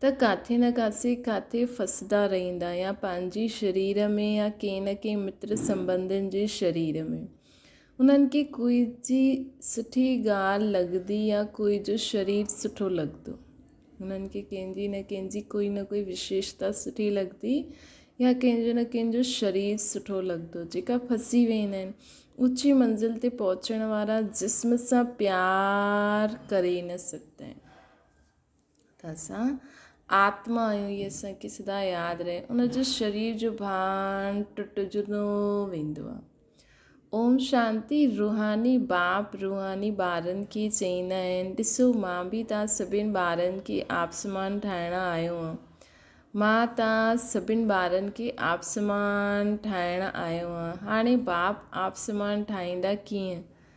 ته ڪاٿي نه ڪاٿي ڪاٿي ڦسندا رهندا يا پنهنجي شرير ۾ يا ڪنهن نه ڪنهن متر سنبنڌين جي شرير ۾. انهن کي ڪوئي جي سٺي ڳالهه لڳندي يا ڪوئي جو شرير سٺو لڳندو. انهن کي ڪنهن جي نه ڪنهن جي ڪوئي نه ڪوئي وشيشتا سٺي لڳندي يا ڪنهن جو نه ڪنهن جو شرير سٺو لڳندو جيڪا ڦسي ويندا آهن. اوچي منزل تي پهچڻ وارا جسم سان پيار ڪري نه سگهندا آهن. ته اسان آتما آهيون هي اسانکي سدا ياد رهي ان جو شرير جو ڀان ٽٽجندو ويندو آهي اوم شانتي روحاني باپ روحاني ٻارن کي چئيندا آهن ڏسو مان به تان سڀين ٻارن کي آپسمان ٺاهڻ آيو آهيان مان تان سڀين ٻارن کي آپسمان ٺاهڻ آيو آهيان هاڻي باپ آپسمان ٺاهيندا ڪيئن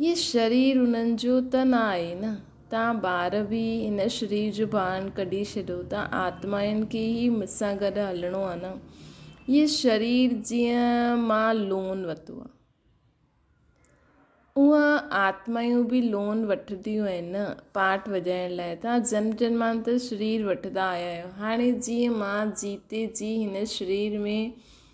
هي شرير انهن جو ته نه آهي نه؟ توهان ٻار به هن شرير جو ڀاڻ ڪڍي ڇڏيو ته آتمائن کي هي مون سان گڏ هلڻو آهي نه؟ هي شرير جيئن مان لون وتو آهي اونهن آتمائون به لون وٺنديون آهن نه؟ پاٽ وڄائڻ لاء توهان جنم جنمانتر شرير وٺندا آيا آهيو هاڻي جيئن مان جيتي جي هن شرير ۾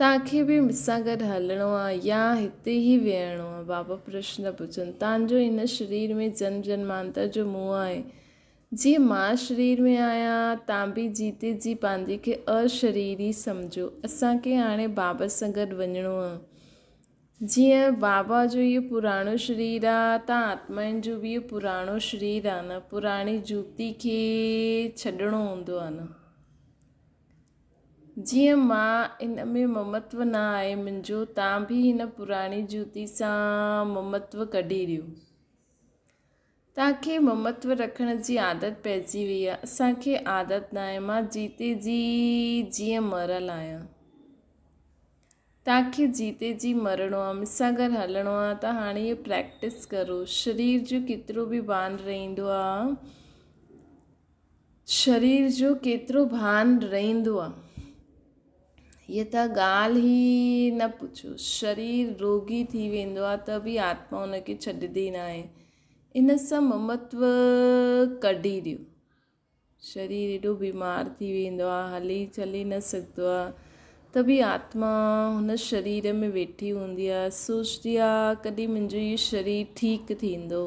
توهان کي به مون سان گڏ هلڻو آ يا هتي ئي ويهڻو آ؟ بابا پرشن پڇن، توهان جو هن شرير ۾ جنم جنمانتر جو موهه آهي. جيئن مان شرير ۾ آهيان، توهان به جيتي جي پنهنجي کي اشريري سمجهو. اسان کي هاڻي بابا سان گڏ وڃڻو آ. جيئن بابا جو اهو پراڻو شرير آ، توهان آتمائن جو به اهو پراڻو شرير آ نه، پراڻي جوتي کي ڇڏڻو هوندو آ نه. جيئن مان ان ۾ ممتو نه آهي منهنجو، تان به هن پراڻي جوتي سان ممتو ڪڍي ڏيو. تان کي ممتو رکڻ جي عادت پئجي وئي آهي، اسان کي عادت نه آهي، مان جيتي جي جيئن مريل آهيان. تان کي جيتي جي مرڻو آهي، مون سان گڏ هلڻو آهي ته هاڻي اهو پريڪٽس ڪرو. شرير جو ڪيترو به بانه رهندو آهي. شرير جو ڪيترو ڀان رئندو آ. هيء ته ڳالهه ئي نه پڇو. شرير روڳي ٿي ويندو آ ته به آتما ان کي ڇڏيندي ناهي. ان سان ممتو ڪڍي ڏيو. شرير ايڏو بيمار ٿي ويندو آ، هلي چلي نه سگهندو آ ته به آتما هن شرير ۾ ويٺي هوندي آ، سوچدي آ ڪڏهن منهنجو هيء شرير ٺيڪ ٿيندو.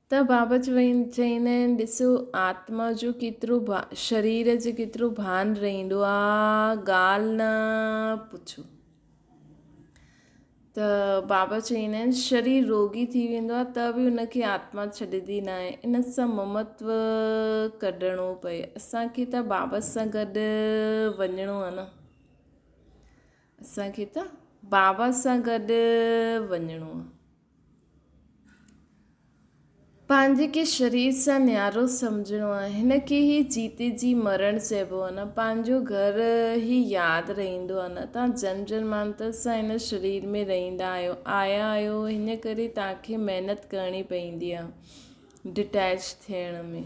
ته بابا چويندا آهن ڏس آتما جو ڪيترو شرير جو ڪيترو ڀان رهندو آ ڳالهه نه پڇو ته بابا چويندا آهن شرير روڳي ٿي ويندو آ ته به ان کي آتما ڇڏيندي نه آهي ان سان ممتو ڪڍڻو پئي اسانکي ته بابا سان گڏ وڃڻو آ نه اسانکي ته بابا سان گڏ وڃڻو آ پنهنجي کي شرير سان نيارو سمجهڻو آهي. هن کي هي جيتي جي مرڻ چئبو آهي نه پنهنجو گهر هي ياد رهندو آهي نه توهان جنم جنمانتر سان هن شرير ۾ رهندا آهيو آيا آهيو هن ڪري توهان کي محنت ڪرڻي پوندي آهي ڊٽيچ ٿيڻ ۾.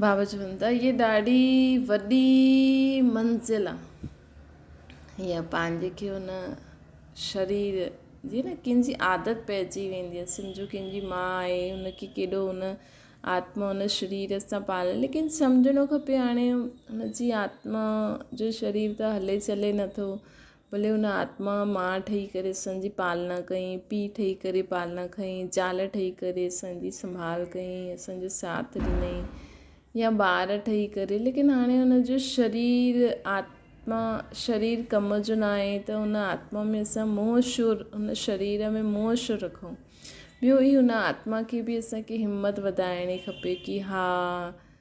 بابا چوي ٿو ته هيء ڏاڍي وڏي منزل آ. هيء پنهنجي کي هن شرير جي نه ڪنهن جي عادت پئجي ويندي آ. سمجهو ڪنهن جي ماء آهي هن کي ڪيڏو هن آتما هن شرير سان پال ليڪن سمجهڻو کپي هاڻي هن جي آتما جو شرير ته هلي چلي نٿو ڀلي ان آتما ماء ٺهي ڪري اسان جي پالنا ڪئين، پيء ٺهي ڪري پالنا کنئين، زال ٺهي ڪري اسان جي سنڀال ڪئين، اسان جو ساٿ ڏنئين يا ٻار ٺهي ڪري ليڪن هاڻي ان جو شرير آتما شرير ڪم جو نه آهي ته ان آتما ۾ اسان منهن شو ان شرير ۾ منهن شو رکون ٻيو هي ان آتما کي به اسان کي همت وڌائڻي کپي ڪي ها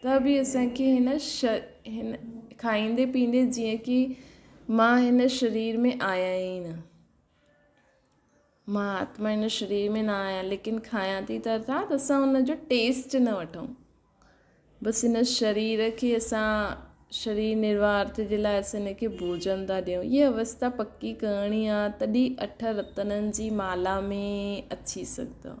ته به اسان کي هن هن کائيندي پيئندي جيئن ڪي مان هن شرير ۾ آهيان ئي نه. مان آتما هن شرير ۾ نه آهيان ليڪن کائيان ٿي ته ارٿات اسان ان جو ٽيسٽ نه وٺون. بس هن شرير کي اسان شرير نرواهه ارٿ جي لاء اسان هن کي ڀوجن ٿا ڏيون هيء اوستا پڪي ڪرڻي آهي تڏهن اٺ رتنن جي مالا ۾ اچي سگهندؤ.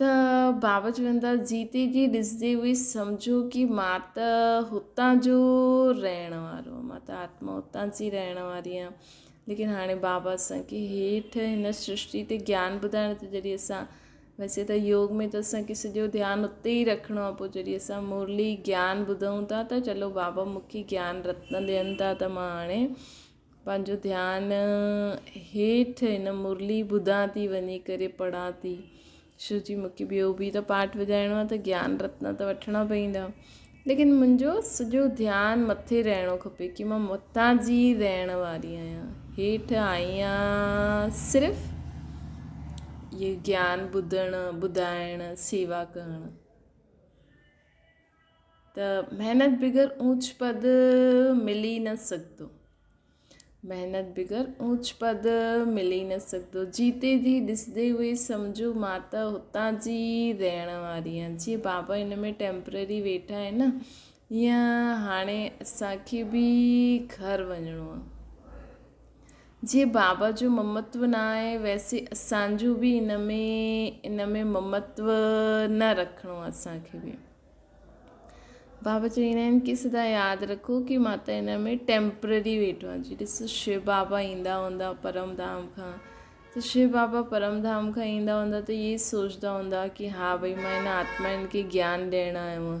ته بابا چون ٿا جيتي جي ڏسجي اهي سمجهو ڪي مان ته هتان جو رهڻ وارو مان ته آتما هتان جي رهڻ واري آهيان ليڪن هاڻي بابا اسانکي هيٺ هن سرشتي تي جيان ٻڌائڻ ته جڏهن اسان ويسي ته يوگ ۾ ته اسانکي سڄو ڌيان اتي ئي رکڻو آهي پوء جڏهن اسان مرلي جيان ٻڌون ٿا ته چلو بابا مونکي جيان رتن ڏين ٿا ته مان هاڻي پنهنجو ڌيان هيٺ هن مرلي ٻڌان ٿي وڃي ڪري پڙهان ٿي شو جي مونکي ٻيو بي ته پاٽ وڄائڻو آهي ته گيان رتنا ته وٺڻا پويندا ليڪن منهنجو سڄو ڌيان مٿي رهڻو کپي ڪي مان متان جي رهڻ واري آهيان هيٺ آهيان صرف يه گيان ٻڌڻ ٻڌائڻ سيوا ڪرڻ ته محنت بغير اونچ پد ملي نه سگهندو محنت بغير اونچ پد ملي نه سگهندو جيتي جي ڏسندي هئي سمجهو مان ته هتان جي رهڻ واري آهيان جي بابا هن ۾ ٽيمپرري ويٺا آهن نه هيئن هاڻي اسان کي به گهر وڃڻو آهي جي بابا جو ممتو نه آهي ويسي اسان جو به ان ۾ ان ۾ ممتو نه رکڻو آهي اسانکي به بابا چويندا آهن ڪي سدا ياد رکو ڪي مان ته ان ۾ ٽيمپرري ويٺو آهي جي ڏسو شيو بابا ايندا هوندا پرم ڌام کان ته شيو بابا پرم ڌام کان ايندا هوندا ته اهي سوچدا هوندا ڪي ها ڀئي مان ان آتمائن کي گيان ڏيڻ آيو آهي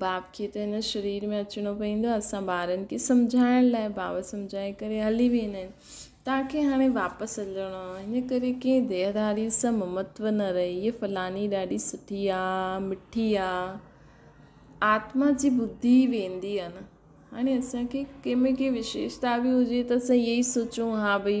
باب کي ته هن شرير ۾ اچڻو پوندو آهي اسان ٻارن کي سمجهائڻ لاء باب سمجهائي ڪري هلي ويندا آهن توهان کي هاڻي واپس هلڻو آهي هن ڪري ڪنهن ديهداري سان ممتو نه رهي هيء فلاني ڏاڍي سٺي آهي مٺي آهي آتما جي ٻڌي ويندي آهي نه هاڻي اسان کي ڪنهن ۾ ڪي وشيشتا به هجي ته اسان هيء ئي سوچون ها ڀئي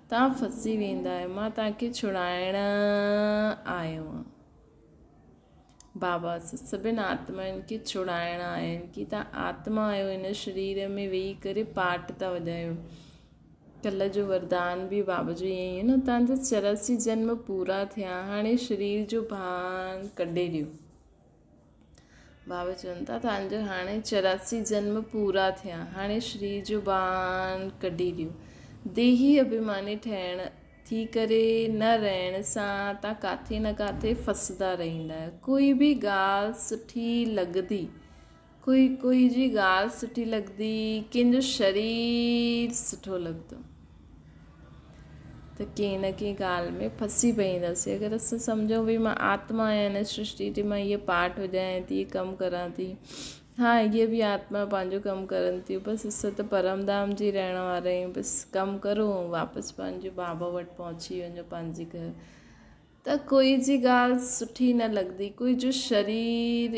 توهان ڦسي ويندا آهيو. مان توهان کي ڇڙائڻ آيو آهيان. بابا اسان سڀني آتمائن کي ڇڙائڻ آيا آهن ڪي توهان آتما آهيو هن شرير ۾ ويهي ڪري پاٽ ٿا وڄايو ڪلهه جو وردان به بابا جو ائين ئي نه توهان جا چوراسي جنم پورا ٿيا هاڻي شرير جو ڀان ڪڍي ڏيو بابا چون ٿا ته انجو هاڻي چوراسي جنم پورا ٿيا هاڻي شري جو بان ڪڍي ڏيو ديهي اڀيماني ٺهڻ ٿي ڪري نه رهڻ سان تان ڪاٿي نه ڪاٿي ڦسدا رهندا آهيو ڪوئي به ڳالهه سٺي لڳدي ڪوئي ڪوئي جي ڳالهه سٺي لڳندي ڪين جو شرير سٺو لڳندو ته ڪين نه ڪين ڳالهه ۾ ڦسي پونداسي اگر اسان سمجهون بھي مان آتما آهيان هن سرشتي جي مان هيء پارٽ هجان ٿي ڪم ڪران ٿي ها هيء به آتما پنهنجو ڪم ڪرن ٿيون بس اسان ته پرم دام جي رهڻ وارا آهيون بس ڪم ڪرو واپس پنهنجو بابا وٽ پهچي وڃو پنهنجي گهر ته ڪوئي جي ڳالهه سٺي نه لڳندي ڪوئي جو شرير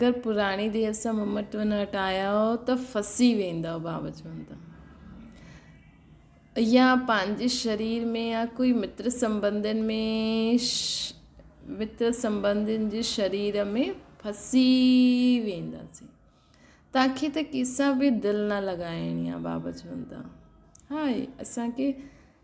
گر پراڻي دير سان ممٽ ون وٽ آياهو ته ڦسي ويندؤ بابا چون ٿا ايا پنهنجي شرير ۾ يا ڪوئي متر سمبندين ۾ متر سمبندين جي شرير ۾ ڦسي وينداسين توکي ته ڪيسان به دل نه لڳائڻي آهي بابا چون ٿا هاي اسان کي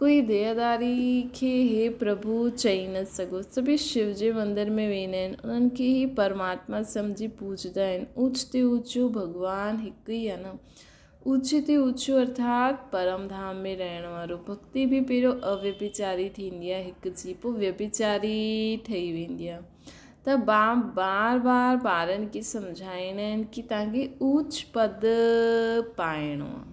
ڪوئي دياداري کي هي پرڀو چئي نه سگهو. سڀيئي شو جي مندر ۾ ويندا آهن. انهن کي هي پرماتما سمجهي پوڄيندا آهن. اوچ تي اوچو ڀڳوان هڪ ئي آهي نه. اوچي تي اوچو ارٿات پرم ڌام ۾ رهڻ وارو. ڀڳتي به پهريو اويڀچاري ٿيندي آهي هڪ جي پوء ويڀچاري ٺهي ويندي آهي. ته باب بار بار ٻارن کي سمجهائيندا آهن ڪي تهان کي اوچ پد پائڻو آهي.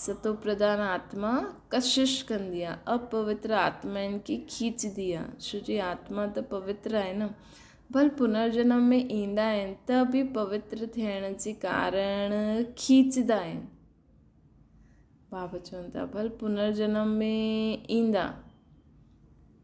ستو پردان آتما ڪشش ڪندي آ، اپوتر آتما ان کي کيچدي آ، ڇو جو آتما ته پوتر آهي نه، ڀل پنرجنم ۾ ايندا آهن ته به پوتر ٿيڻ جي ڪارڻ کيچدا آهن. بابا چون ٿا ڀل پنرجنم ۾ ايندا.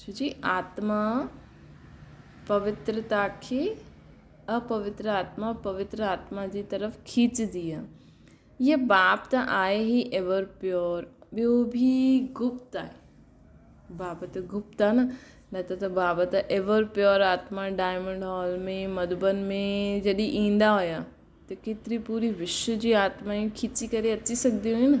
ڇو جي آتما پوترتا کي اپوتر آتما پوتر آتما جي طرف کيچجي آ هيء باب ته آهي ئي ايور پيور ٻيو به گپت آهي باب ته گپت آ نه نه ته ته باب ته ايور پيور آتما ڊائمنڊ هال ۾ مڌبن ۾ جڏهن ايندا هيا ته ڪيتري پوري وش جي آتمائيون کيچي ڪري اچي سگهنديون هيون نه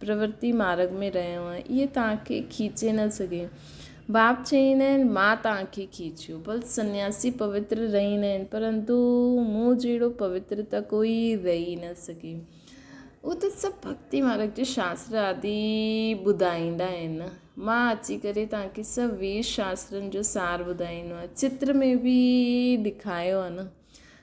پرورتي مارڳ ۾ رهيو آهي، اهي توهان کي کيچي نه سگهي. باب چئين آهن، مان توهان کي کيچيو. بل سنياسي پوتر رهين آهن، پرنتو مون جهڙو پوتر ته ڪوئي رهي نه سگهي. اهو ته سڀ ڀڳتي مارڳ جي شاستر آدي ٻڌائيندا آهن. مان اچي ڪري توهان کي سڀ ويد شاسترن جو سار ٻڌائيندو آهيان. چتر ۾ به ڏيکايو آهي نه.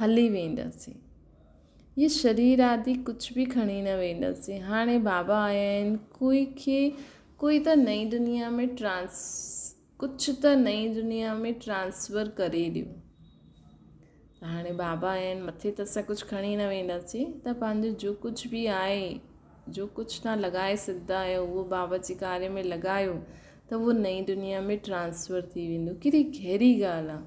هلي وينداسين. هي شرير آدي ڪجهه به کڻي نه وينداسين. هاڻي بابا آيا آهن ڪوئي کي ڪوئي ته نئين دنيا ۾ ٽرانس ڪجهه ته نئين دنيا ۾ ٽرانسفر ڪري ڏيو. ته هاڻي بابا آيا آهن مٿي ته اسان ڪجهه کڻي نه وينداسين ته پنهنجو جو ڪجهه به آهي جو ڪجهه تان لڳائي سگهندا آهيو اهو بابا جي ڪاري ۾ لڳايو ته اهو نئين دنيا ۾ ٽرانسفر ٿي ويندو ڪيڏي گهري ڳالهه آهي.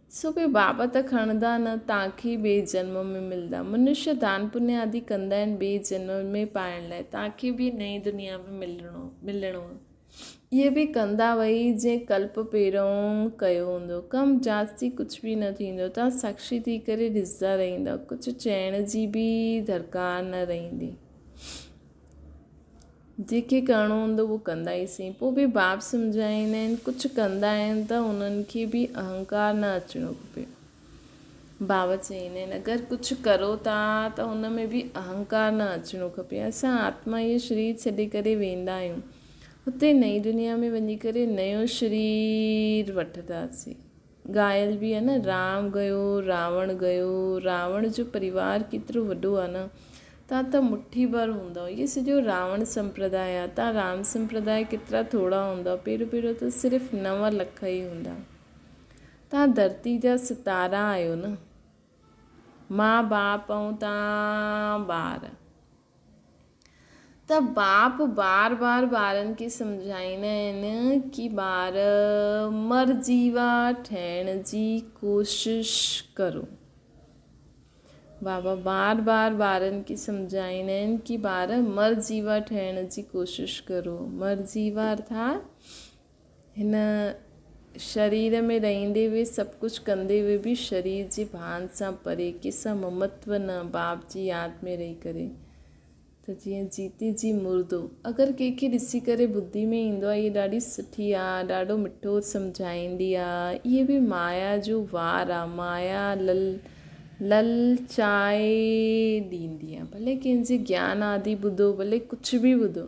سو ڪي بابت کڻندا نه تانکي ٻئي جنم ۾ ملدا. منشيا دان پڃ آدي ڪندا آهن ٻئي جنم ۾ پائڻ لاء تانکي ٻي نئين دنيا ۾ ملڻو آهي. اهي به ڪندا وهي جئين ڪلپ پهرئون ڪيو هوندو. ڪم جاچ ٿي ڪجهه به نه ٿيندو. توهان ساکشي ٿي ڪري ڏسندا رهندا. ڪجهه چئڻ جي به درڪار نه رهندي. جيڪي ڪرڻو هوندو اهو ڪندا ئي سهي پوء به باب سمجهائيندا آهن ڪجهه ڪندا آهن ته انهن کي به اهنڪار نه اچڻو کپي باب چئيندا آهن اگر ڪجهه ڪرو ٿا ته ان ۾ به اهنڪار نه اچڻو کپي اسان آتما اهو شرير ڇڏي ڪري ويندا آهيون هتي نئين دنيا ۾ وڃي ڪري نيو شرير وٺنداسين ڳايل به آهي نه رام گيو راوڻ گيو راوڻ جو پريوار ڪيترو وڏو آهي نه تان ته مٺي ڀر هوندؤ اهي سڄو راوڻ سمپرداء آهي تان رام سمپرداء ڪيترا ٿورا هوندؤ پهريون پهريون ته صرف نو لک ئي هوندا تان ڌرتي جا ستارا آهيو نه ماء باپ ۽ تان ٻار. ته باپ بار بار ٻارن کي سمجهائيندا آهن ڪي ٻار مر جيوا ٺهڻ جي ڪوشش ڪرو. بابا بار بار ٻارن کي سمجهائيندا آهن ڪي ٻار مر جيوا ٺهڻ جي ڪوشش ڪرو. مر جيوا ارٿات هن شرير ۾ رهندي به سڀ ڪجهه ڪندي به به شرير جي ڀان سان پري ڪيسان ممتو نه باب جي ياد ۾ رهي ڪري ته جيئن جيتي جي مردو اگر ڪنهن کي ڏسي ڪري ٻڌي ۾ ايندو آهي هيء ڏاڍي سٺي آ ڏاڍو مٺو سمجهائيندي آ اهي به مايا جو وار آ مايا لل للچائي ڏيندي آ ڀلي ڪنهن جي گيان آدي ٻڌو ڀلي ڪجهه به ٻڌو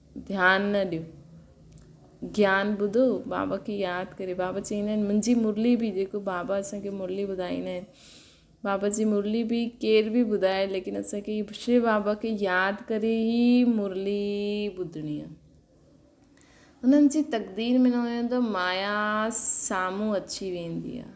ڌيان نه ڏيو گيان ٻڌو بابا کي ياد ڪري بابا چيندا آهن منهنجي مرلي بي جيڪو بابا اسانکي مرلي ٻڌائيندا آهن بابا جي مرلي بي ڪير بي ٻڌائي ليڪن اسانکي شي بابا کي ياد ڪري هي مرلي ٻڌڻي آهي انهن جي تقدير ۾ نه هوندو مايا سامهون اچي ويندي آهي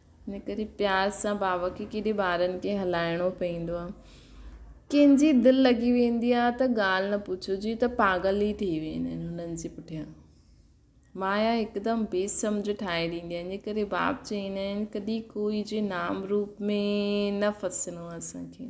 نڪري پيار سان ڀاء کي ڪيڏي ٻارن کي هلائڻو پئيندو آ. ڪن جي دل لڳي ويندي آ ته ڳالهه نه پڇو جيئن ته پاڳل ئي ٿي ويندا آهن هنن جي پٺيان مايا هڪدم بي سمجهه ٺاهي ڏيندي آ ان ڪري باب چئيندا آهن ڪڏهن ڪوئي جي نام روپ ۾ نه ڦسنو آ اسان کي.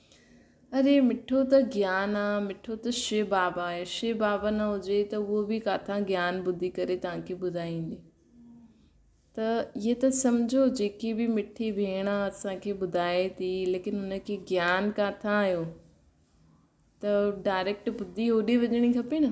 اري مٺو ته گيان آ، مٺو ته شي بابا آهي، شي بابا نه هجي ته اهو به ڪاٿان گيان ٻڌي ڪري توهان کي ٻڌائيندي. ته اهي ته سمجهو جيڪي به مٺي ڀيڻ اسان کي ٻڌائي ٿي ليڪن هن کي گيان ڪاٿان آيو ته ڊائريڪٽ ٻڌي هوڏي وڃڻي کپي نه.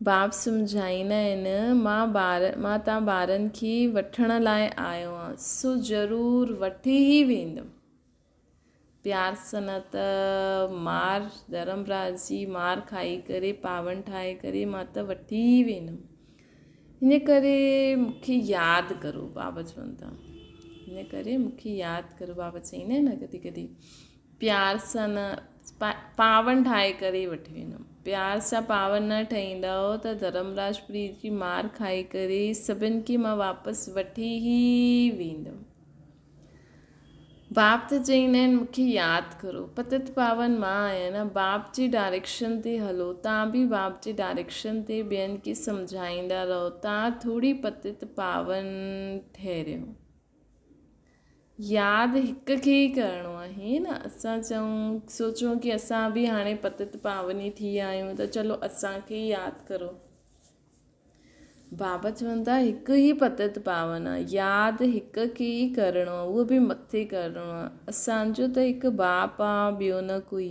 باب سمجهائيندا آهن، مان ٻار، مان تان ٻارن کي وٺڻ لاء آيو آهيان، سو ضرور وٺي ئي ويندم. پيار سان نه ته مار، ڌرمراء جي مار کائي ڪري، پاون ٺاهي ڪري، مان ته وٺي ئي ويندم. ان ڪري مون کي ياد ڪرو، باب چون ٿا. ان ڪري مون کي ياد ڪرو، باب چئيندا آهن ڪڏهن ڪڏهن. پيار سان نه پاون ٺاهي ڪري ئي وٺي ويندم. پيار سان پاون نه ٺهيندؤ ته ڌرمراج پريت جي مار کائي ڪري سڀن کي مان واپس وٺي ئي ويندم. باب ته چئين آهن مون کي ياد ڪرو. پتت پاون مان آهيان نه. باب جي ڊائريڪشن تي هلو. توهان به باب جي ڊائريڪشن تي ٻين کي سمجهائيندا رهو. توهان ٿوري پتت پاون ٺهريو. ياد هڪ کي ئي ڪرڻو آهي ائين نه اسان چئون سوچون ڪي اسان به هاڻي پتت پاوني ٿي ويا آهيون ته چلو اسان کي ئي ياد ڪرو بابا چون ٿا هڪ ئي پتت پاون آهي ياد هڪ کي ئي ڪرڻو آهي اهو به مٿي ڪرڻو آهي اسانجو ته هڪ باپ آهي ٻيو نه ڪوئي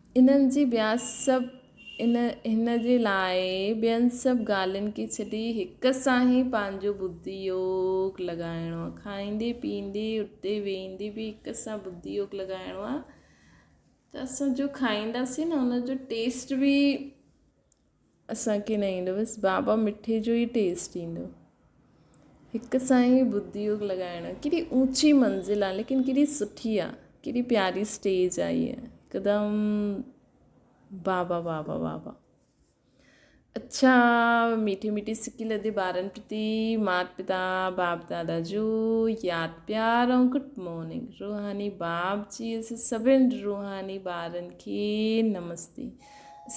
انهن جي ٻيا سڀ ان هن جي لاء ٻين سڀ ڳالهين کي ڇڏي هڪ سان ئي پنهنجو ٻڌي يوگ لڳائڻو آهي کائيندي پيئندي اٺندي ويهندي به هڪ سان ٻڌي يوگ لڳائڻو آهي ته اسان جو کائينداسين نه ان جو ٽيسٽ بي اسان کي نه ايندو بس بابا مٺي جو ئي ٽيسٽ ايندو هڪ سائين ٻڌ يوگ لڳائڻ ڪيڏي اوچي منزل آ ليڪن ڪيڏي سٺي آ ڪيڏي پياري اسٽيج آ هيء هڪدم بابا بابا بابا اچھا ميٺي ميٺي سڪي لڌي ٻارن پرتي مات پتا باپ دادا جو ياد پيار ۽ گڊ مارننگ روحاني باپ جي اسان سڀن روحاني ٻارن کي نمستي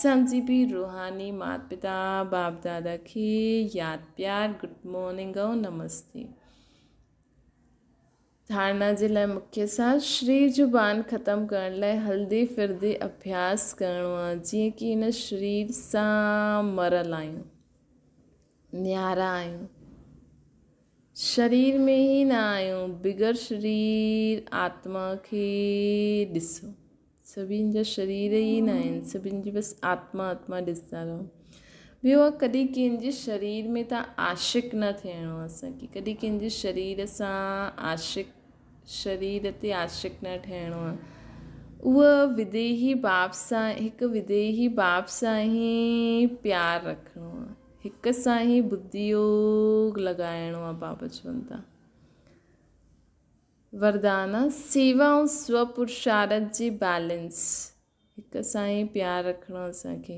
سمجهي به روحاني مات پتا باپ دادا کي ياد پيار گڊ مارننگ ۽ نمستي ڌارنا جي لاء مکي سان شري زبان ختم ڪرڻ لاء هلدي ڦردي اڀياس ڪرڻو آهي جيئن ڪي هن شرير سان مرل آهيون نيارا آهيون شرير ۾ هي نه آهيون بغير شرير آتما کي ڏسو سڀني جا شرير ئي نه آهن سڀني جي بس آتما آتما ڏسندا رهو ٻيو آ ڪڏهن ڪنهن جي شرير ۾ ته عاشق نه ٿيڻو اسانکي ڪڏهن ڪنهن جي شرير سان عاشق شرير تي عاشق نه ٺهڻو آ اهو وديهي باپ سان هڪ وديهي باپ سان هي پيار رکڻو آ هڪ سان هي بديوگ لڳائڻو آ بابا چون ٿا وردان، سيوا ۽ سوء پرشارٿ جي بئلنس هڪ سان ئي پيار رکڻو اسان کي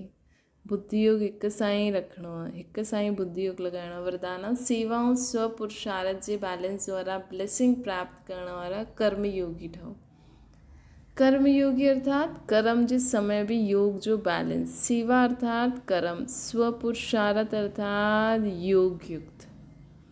بدھ يوگ هڪ سان ئي رکڻو آهي هڪ سان ئي بدھ يوگ لڳائڻو آهي وردان، سيوا ۽ سوء پرشارٿ جي بئلنس وارا بليسنگ پراپت ڪرڻ وارا ڪرم يوگي ٺهو ڪرم يوگي ارٿات ڪرم جي سمي به يوگ جو بئلنس سيوا ارٿات ڪرم سوء پرشارٿ ارٿات يوگ يڪت.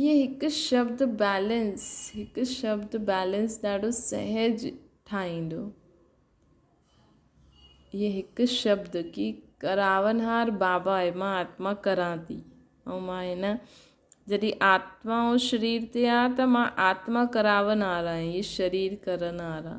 ائين هڪ شبد بيلنس هڪ شبد بيلنس ڏاڍو سهج ٺاهيندو. ائين هڪ شبد ڪي ڪراونهار بابا آهي مان آتما ڪران ٿي ۽ مان هن جڏهن آتما ۽ شرير تي آ ته مان آتما ڪراونهار آهي هي شرير ڪرنهار آ.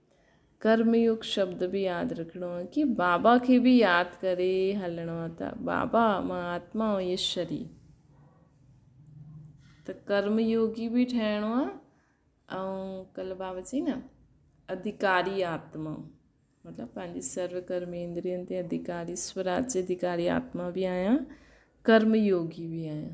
ڪرم يوگ شبد به ياد رکڻو آ ڪي بابا کي به ياد ڪري هلڻو آ ته بابا مان آتما ۽ ايشور ئي ته ڪرم يوگي به ٺهڻو آ ۽ ڪل بابا چي نه اڌيڪاري آتما مطلب پنهنجي سرو ڪرمي اندرين تي اڌيڪاري سوراج جي اڌيڪاري آتما به آهيان ڪرم يوگي به آهيان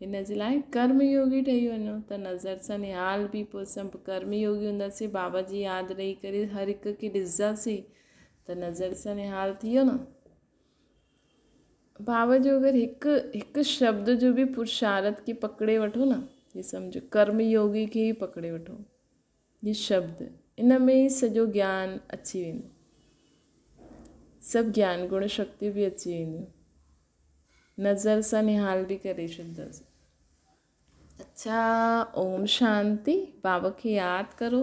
هن جي لاء ڪرم يوگي ٺهي وڃو ته نظر سان نهال به پوء اسان به ڪرم يوگي هونداسين بابا جي ياد رهي ڪري هر هڪ کي ڏسنداسين ته نظر سان نهال ٿي ويو نه بابا جو اگر هڪ هڪ شبد جو به پرشارت کي پڪڙي وٺو نه هي سمجھو ڪرم يوگي کي ئي پڪڙي وٺو نشبد، ان ۾ ئي سڄو گيان اچي ويندو. سڀ گيان گڻ شڪتيون به اچي وينديون. نظر سان نهال به ڪري ڇڏينداسين. اڇا اوم شانتي بابا کي ياد ڪرو.